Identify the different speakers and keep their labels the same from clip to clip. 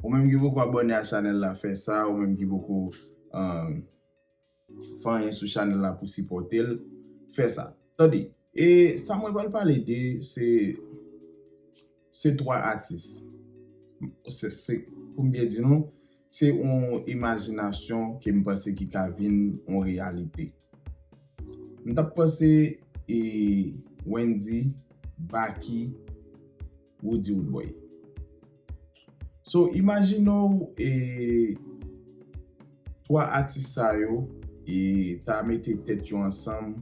Speaker 1: Ou menm ki poko abòne a chanèl la fè sa, ou menm ki poko fè anyen sou chanèl la pou sipòtel fè sa. Tande, e sa mwen pral pale de se se 3 atis. Se poum byen di nou, se yon imajinasyon ke m panse ki ka vin yon reyalite. M tap panse e Wendy, Baky. Roody Roodboy. So imajine w e 3 atis sa yo e ta mete tèt yo ansanm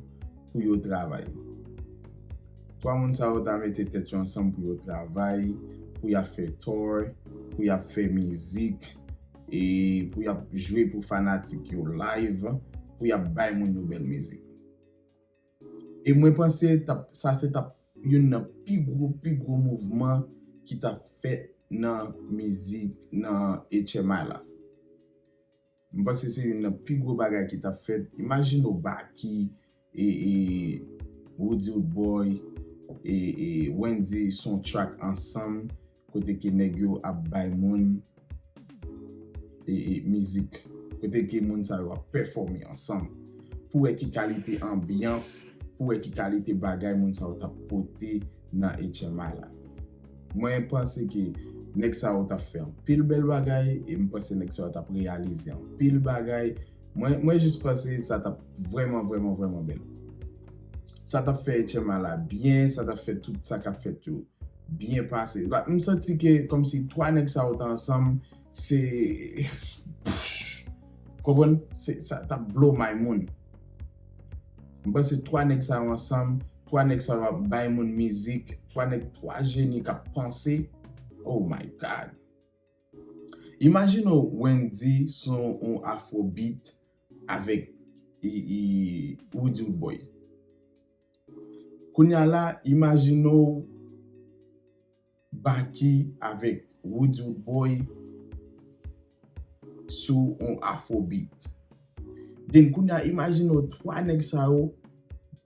Speaker 1: pou yo travay. 3 moun sa yo ta mete tèt yo ansanm pou yo travay, pou y ap fè tour, pou y ap fè mizik, e pou y ap jwe pou fanatik yo live, pou y ap bay moun yo bèl mizik. E mwen panse sa se tap youn nan pi gwo, pi gwo mouvman ki tap fèt nan mizik, nan HMI la. Mwen panse se youn nan pi gwo bagay ki tap fèt. Imajine ou Baky, e, e, Roody Roodboy, e, e, Wendyy son track ansanm, kote ke nèg yo ap bay moun e mizik, kote ke moun sa yo ap pèfòme ansanm, pou wè ki kalite anbyans, pou wè ki kalite bagay moun sa yo tap pote nan HMI la. Mwen panse ke nèg sa yo tap fè anpil bèl bagay, e m panse nèg sa yo tap reyalize anpil bagay, mwen jis panse sa tap vrèman vrèman vrèman bèl. Sa t ap fè Etchenma la byen, sa t ap fè tout sa k ap fèt yo byen pase. M santi ke kòmsi 3 nèg sa yo te ansanm, se konprann? Sa t ap blow my moun. M panse 3 nèg sa yo ansanm, 3 nèg sa yo ap bay moun mizik, 3 nèg, 3 jeni k ap panse. Oh my God! Imajine w Wendyy sou yon afrobeat Avèk Roody Roodboy. Kounya la, imajine w Baky avèk Roody Roodboy sou yon Afrobeat. Den kounya imajine w 3 nèg sa yo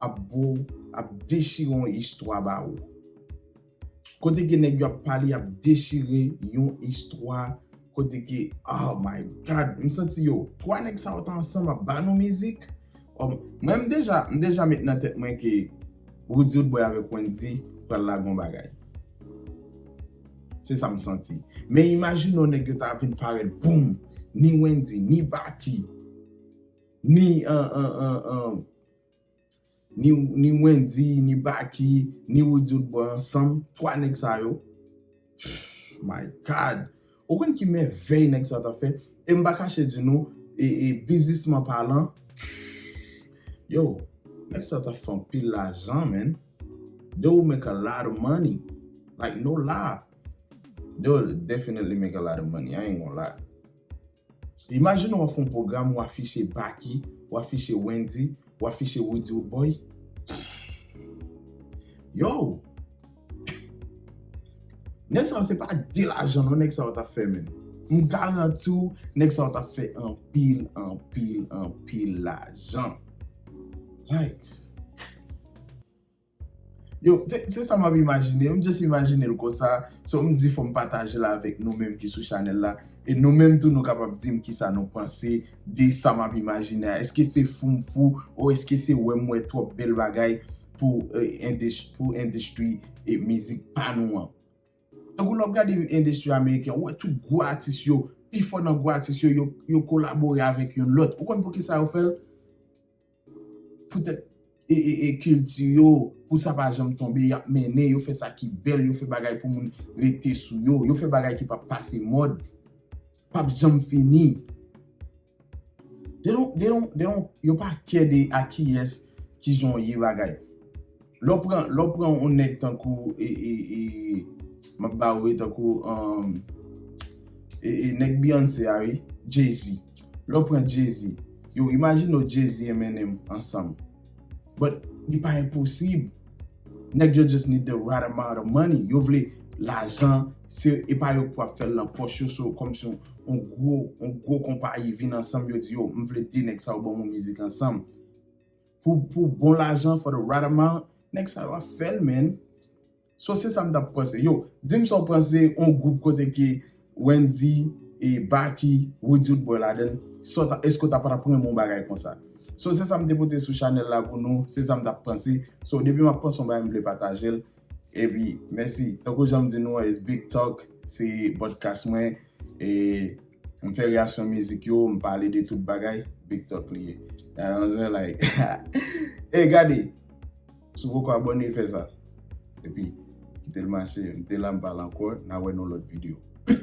Speaker 1: ap bo w, ap dechire yon istwa ba ou. Kote ke nèg yo ap pale yap dechire yon istwa kote ke oh my God m santi yo 3 nèg sa yo ta ansanm ap ba nou mizik oh mwen m deja m deja met nan tèt mwen ke Roody Rodboy avèk Wendyy pral lage yon bagay se sa m santi men imajine w nèg yo ta vin parèt boom ni Wendyy ni Baky ni Ni Wendy, ni Baky, ni Roody ou t bon ansanm, 3 nèg sa yo, pfff my God! Ou konn ki mèvèy nèg sa yo ta fè? E m pa kache di nou, biznisman palan, pfff yow, nèg sa yo ta fè anpil lajan man, they will make a lot of money, like no lie, they will definitely make a lot of money, I ain't gonna lie. Imajine w ap fè yon pwogram ou afiche Baky, ou afiche Wendy, ou afiche Roody Roodboy. Yow! Nèg sa yo se pa de lajan non nèg sa yo t ap fè menn. M garanti w nèg sa yo t ap fè anpil, anpil, anpil lajan. Like. Yo, se, se sa map imajine, m just imajinel konsa, so m di fòm patajel avèk nou menm ki sou chanèl la, e nou menm tou nou kapab dim kisa nou panse de sa map imajine a, eske se fou m fou, o eske se wè m wè twòp bèl bagay pou endes, pou endestri e mizik pa nou an. Tankou lè wap gade endestri ameriken, ou wè tout gwo atis yo, pifò nan gwo atis yo, yo kolabore avèk youn lòt, ou konn poukisa yo fèl? poutèt e kilti yo, pou sa pa janm tonbe, y ap mennen, yo fè sa ki bèl, yo fè bagay pou moun rete sou yo, yo fè bagay ki p ap pase mòd, p ap janm fini. Yo pa kè de a kiyès ki jan w ye bagay. Lè w pran, lè w pran yon nèg tankou e, e, e, m ap ba ou e tankou um, e, e, nèg Beyoncé a wi, Jay-Z. Lè w pran Jay-Z, yow imajine w Jay-Z Eminem ansanm. But, li pa enposib. Nèg yo just need the right amount of money. Yo vle lajan, se, e pa yo k pou ap fè l nan pòch yo, so kòm si yon gwo, yon gwo konpayi vin ansanm yo di yo, m vle 2 nèg sa yo ban mwen mizik ansanm. Pou pou bon lajan for the right amount. Nèg sa yo ap fèl menn. So se sa m tap panse. Yo, dim sa w panse on gwoup kote ke Wendy e Baky, Roody t bò ladann. Sa w ta, èske w ta patap renmen on bagay konsa. So se sa m te pote sou chanèl la pou nou, se sa m tap panse. So depi map panse on bagay m vle patajel. Epi mèsi. Tankou jan m di nou an is big talk se podcast mwen e m fè reyaksyon mizik yo, m pale de tout bagay, big talk li ye. Nan yon zen like. Ey gade! Si w poko abòne fè sa. Epi kite l mache. M te la m pa la ankò. N a wè nan yon lòt video. Peace!